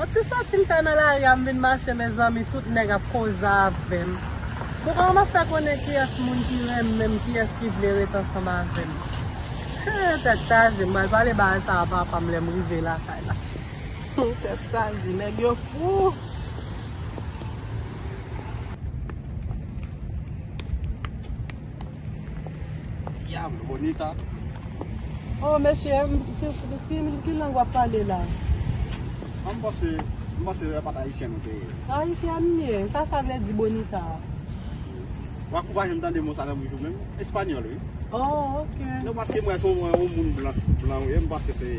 On ti soti m fè nan lari a m vin mache mezanmi tout nèg ap koze avèm bon kòman map fè konnen kiyès moun ki renmen m kiyès ki vle ret ansanm avèm hee tèt chaje m pral pale bagay sa a papa m lèm rive lakay la hoo tèt chaje nèg yo fou. Diablo bonita. Oh mesye, ki lang wap pale la? An m panse, m panse yo pat ayisyen nou te ye. Ayisyen m ye, sa sa vle di bonita a? Wa kou pa janm tande mo sa nan bouch ou menm, espanyòl wi. Oh ok. Non paske m wè se yon moun blan, blan ou ye, m panse se.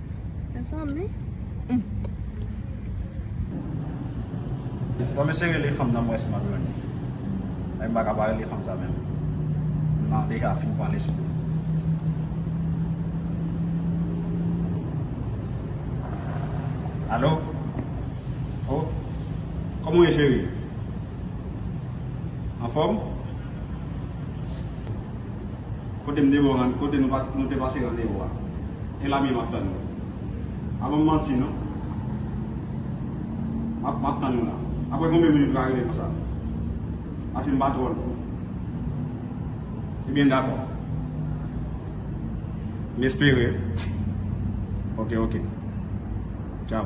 Sa sanble. Bon mesye rele fanm nan m wè si map jwenn li. Epi m paka pa rele fanm sa menm. M nan deja fin pran lespri. Alo? Oh? Kòman ou ye cheri? Anfòm? Kote m te wè w rann, kote nou te pase randevo a. E la menm ap tann nou. Pa ban m manti non. M ap tann ou la. Aprè konbyen minit ou ka rete konsa? Paske m pa twò lwen. Ebyen dakò. M espere. Ok, ok. Tchaw.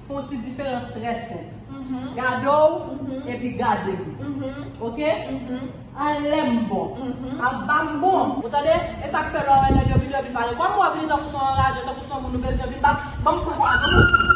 Fon ti diferans trè senp. Gade w epi gade m. Ok? An lè m bon. Ap ba m bon. Ou tande? E sa k fè lè w wè nèg yo vini yo vin pale. Kòm ou ap vini tankou son anraje, tankou son moun ou bezwen vin bat, ban m pwen sa a tou.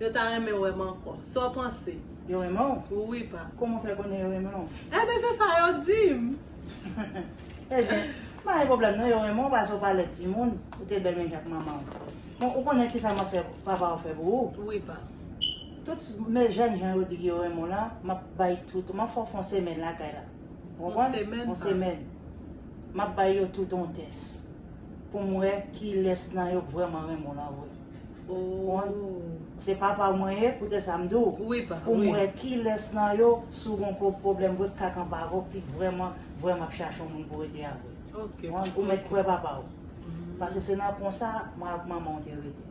Yo ta renmen wèm ankò. Saw panse? Yo renmen w? Wi pa. Kòman w fè konnen yo renmen w? Enben se sa yo dim. Enben, pa gen pwoblèm non yo renmen w pase w pa lèd timoun, ou te bèl menm jan ak manman w. Bon, ou konnen kisa map fè papa w fè pou ou? Wi pa. Tout men jèn jan yo di ki yo renmen w lan, map bay tout, map fè w fè yon semèn lakay la. Ou konprann? Yon semèn pa. Yon semèn. Map bay yo tout yon tès. Pou m wè kilès nan yo k vrèman renmen w lan vre. Ohh. Se papa w mwen ye koute sa m di w pou m wè kilès nan yo si w gen yon gwo pwoblèm vre k ka kanpe avè w ki vrèman vrèman ap chache yon moun pou rete avè l. Ok. Ou mèt kwè papa w. Pase se nan konsa mwen ak manman w te rete.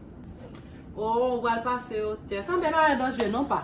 Ohh ou pral pase yo tès. Anben pa gen danje non pa.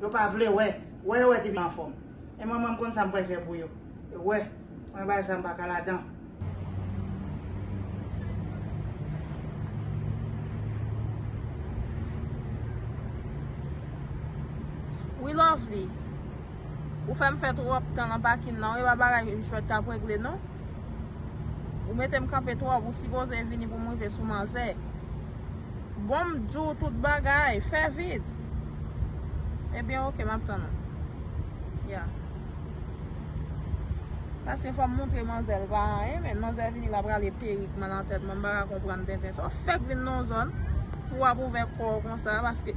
Yo pa vle wè. Wè yo wè ti fi anfom. E mwen mwen m konn sa m pral fè pou yo. Yo wè. Mwen bay sa m paka ladan. Wi lovely. Ou fè m fè twop tan nan pakin nan wi. E pa bagay jwet kap regle non. Ou mete m kanpe twop. Ou sipoze vini pou m rive sou manzè. Bon m di w tout bagay. Fè vit. Ebyen ok m ap tann ou. Ya. Paske fò m montre manzè l pa anyen men. Manzè vini la prale perik mwen nan tèt mwen m pa ka konprann tenten sa. Ou fèk vin nan yon zòn pou w ap ouvè kò w konsa paske.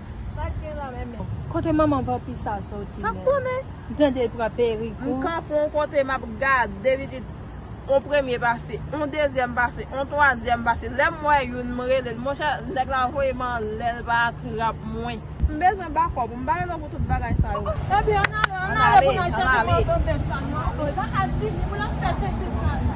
Sak gen la menm. Kote manman vanpi sa soti menm. Sak konnen. M tande l pran perik tou. M kanpe yon kote map gade pitit. Yon premye pase, yon dezyèm pase, yon twazyèm pase. Lè m wè youn m rele l. Monchè nèg la voye m anlè l pa trap mwen. M bezwen bakòp, m bare lò pou tout bagay sa yo. Epi ann ale, ann ale pou n al chèche mòso bèf sa nou an. Epa Adjimi pou l ap fè penti sa l la.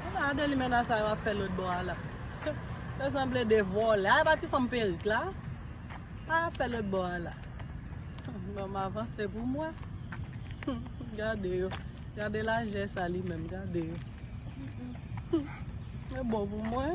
Ebyen adelimena sa yo ap fè lotbò a la Yo sanble 2 vòlè a epa ti fanm perik la Sa yap fè lotbò a la Banm avanse poum wè Gade yo Gade lajè sa li menm gade yo Ebon pou mwen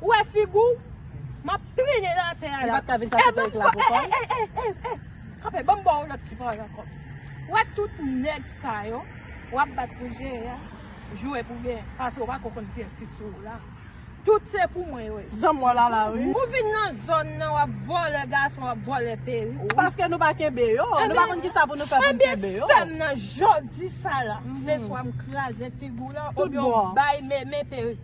Ou wè figi w? M ap trennen l atè a la. Li pa t ka vin chache perik la pou kò l? E, e, e, e, e! Kanpe, ban m ba w lòt ti pawòl ankò. Ou wè tout nèg sa yo, w ap bat pou jere a, jwe pou genyen, paske w pa ko konn kiyès ki sou ou la. Tout se pou mwen yo ye. Jan m wè w la la wi. Ou vin nan zòn nan, w ap vòlè gason, w ap vòlè perik. Paske nou pa kenbe yo. Nou pa konn kisa pou nou fè pou n kenbe yo. Ebyen, sè m nan, jodi sa la, se swa m kraze figi w la, oubyen w bay Meme perik.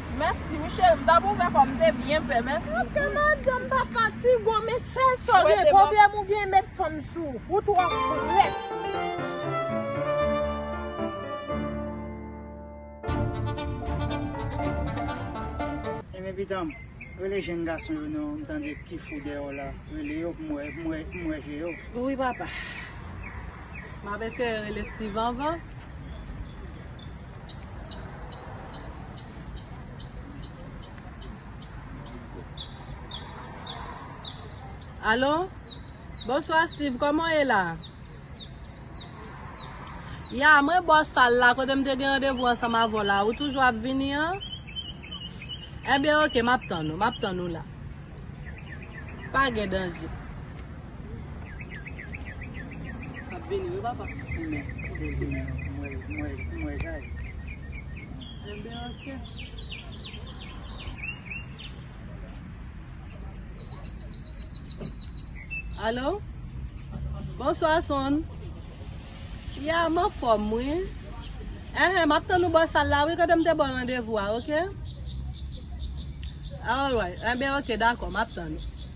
Mèsi wi cheri m tap ouvè kòm m te byen pè mèsi. Ok madanm pa fatigo men sèl sa w gen problèm ou gen met fanm sou ou. Ou twò frèt. Renmen pitanm rele jenn gason yo non m tande ki fou deyò la rele yo pou m wè pou m wè je yo. Wi papa. Map eseye rele Steeve anvan. Alo Bonswa Steeve kòman w ye la Ya mwen bò sal la kote m te gen randevou ansanm avè w la Ou toujou ap vini an Ebyen ok m ap tann ou M ap tann ou la Pa gen danje Alo Bonswa son Ya m anfòm wi Enhen m ap tann ou bò sal la wi kote m te ba w randevou a ok Alright enben ok dakò m ap tann ou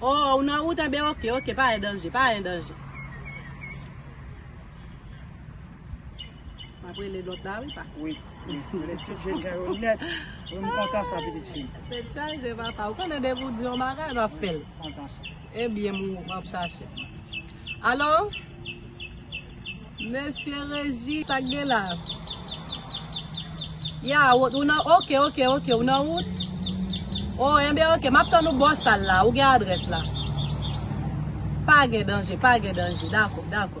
Oh ou nan wout anben ok ok pa gen danje pa gen danje. Map rele lot la wi pa. Wi wi rele tout jen jan yo net. Wi m kontan sa pitit fim. Tet chaje papa ou konnen depi ou di yon bagay wap fel. Kontan sa. Ebyen m wap chache. Alo. Mesye reji sak gen la. Ya ou ou nan ok ok ok ou nan wout oh enben ok map tann ou bò sal la ou gen adrès la pa gen danje pa gen danje dakò dakò.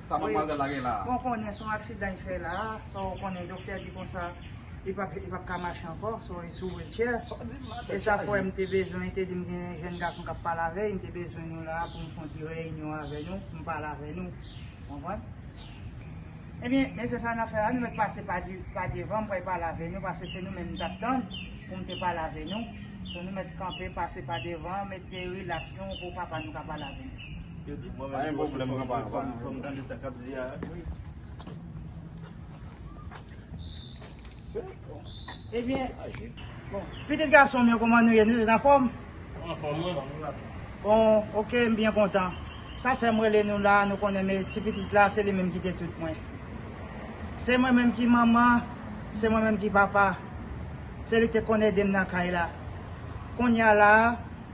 Sa manmwazèl la gen la a? Bon konnen son aksidan li fè la a, so ou konnen doktè di konsa li pap li pap ka mache ankò, so li sou wheelchair. Sa w di m la tèt chaje. E sa fè m te bezwen, li te di m gen yon jèn gason kap pale avè li, m te bezwen nou la a pou m fon ti reyinyon avè nou, pou m pale avè nou. Konprann? Ebyen, men se sa n ap fè la, nou mèt pase pa di pa devan, m pral pale avè nou pase se nou menm m tap tann pou m te pale avè nou. So nou mèt kanpe pase pa devan, mèt te rilaks nou pou papa nou ka pale avè nou. Pitit gason mwen kouman nou ye nou nan fòm? Nan fòm mwen. Bon ok m byen kontan. Sa fèm rele nou la nou konnen men ti pitit la se li menm ki te tout mwen. Se mwen menm ki manman, se mwen menm ki papa. Se li te konn ede m nan kay la. Kounya la.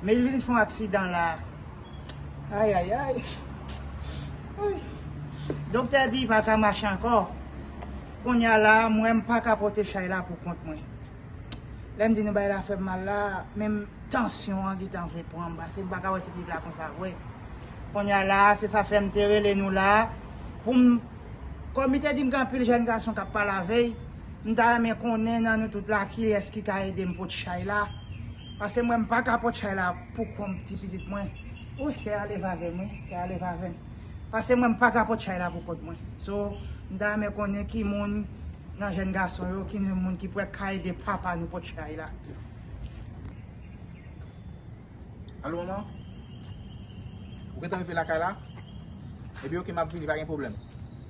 Maylin fon aksidan la ayayay wouyy doktè di pa ka mache ankò kounya la m wè m pa ka pote chay la pou kont mwen lè m di nou bagay la fè m mal la menm tansyon an gentan vle pran m pase m pa ka wè ti pitit la konsa vre kounya la se sa fè m te rele nou la pou m kòm li te di m gen anpil jèn gason k ap pale avè m ta renmen konnen nan nou tout la kilès ki ka ede m pot chay la. Pase mwen mpaka pot chay la pou konm ti pitit mwen Ouih kè a leve avèm wi kè a leve avèm Pase mwen mpaka pot chay la pou kont mwen So mta renmen konnen ki moun nan jèn gason yo ki moun ki prè ka ede papa nou pot chay la Alo manman Ou gentan rive lakay la Ebyen ok map vini pa gen pwoblèm.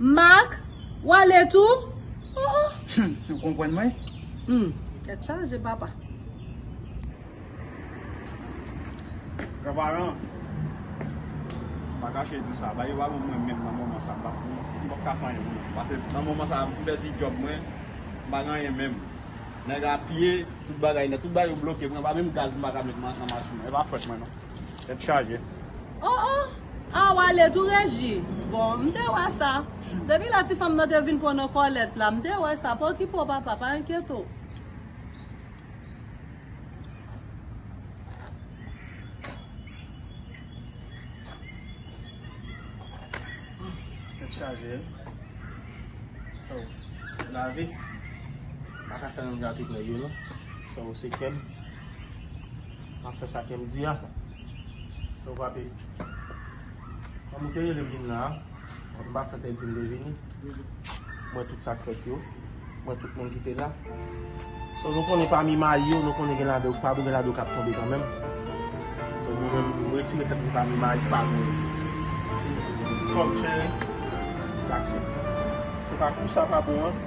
Marc, ou ale tou? Oh oh! Humm, ou konprann mwen? Humm, tèt chaje papa. Granparan, m pa kache di w sa, bagay yo pa bon pou mwen menm nan moman sa. M pa p ka fè anyen pou mwen. Pase nan moman sa, m pèdi djòb mwen, m pa gen anyen menm. Nèg la piye tout bagay nèt. Tout bagay yo bloke pou mwen. Pa menm gaz m pa ka met nan machin nan. E pa fòt mwen non. Tèt chaje. Oh oh! Ah wale tou Reji? Bon, m te wè sa. Depi lè ti fanm nan te vin pran nan kòlèt la, m te wè sa. Pa okipe w papa, pa enkyete w. Tèt chaje wi. So, lavi pa ka fè yon gate pou nèg yo non. So, se kè m. Map fè sa kem di a. So papi. Kom ou te rele m vin la a. M pa fè te di m te vini. M wè tout sak fèt yo. M wè tout moun ki te la. So nou konnen pami mayi yo nou konnen gen la de pa gen la de kap tonbe kanmenm. So mwen menm m retire tet mwen pami mayi pa gen kòm chè. M pa aksepte. Se pa kou sa pa bon an.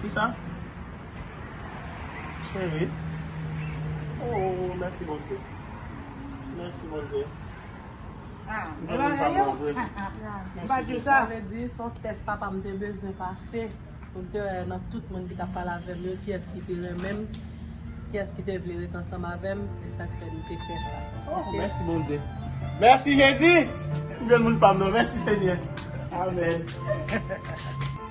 Ki sa? Cheri. Ooh, mèsi Bondye. Mèsi Bondye. Ha, mwen pa mwen yo. Ha, ha, ha. Mwen pa di sa. Mwen vle di, son tès papa mwen te bezwen pase. Mwen te wè nan tout moun ki ta pale avè mwen, ki es ki te renmen mwen, ki es ki te vle ret ansanm avè mwen, e sak fè mwen te fè sa. Oh, mèsi Bondye. Mèsi Jezi! Mwen vle moun pa mwen yo. Mèsi Senyè. Amen.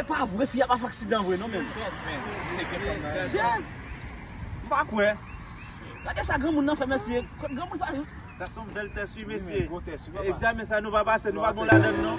Epa vre fi a pa fè aksidan vre non menm. Mesye m pa kwè. Gade sa granmoun nan fè mesye. Granmoun sa yo. Sa son bèl tès wi mesye. Egzamen sa nou pa pase nou pa bon ladann non.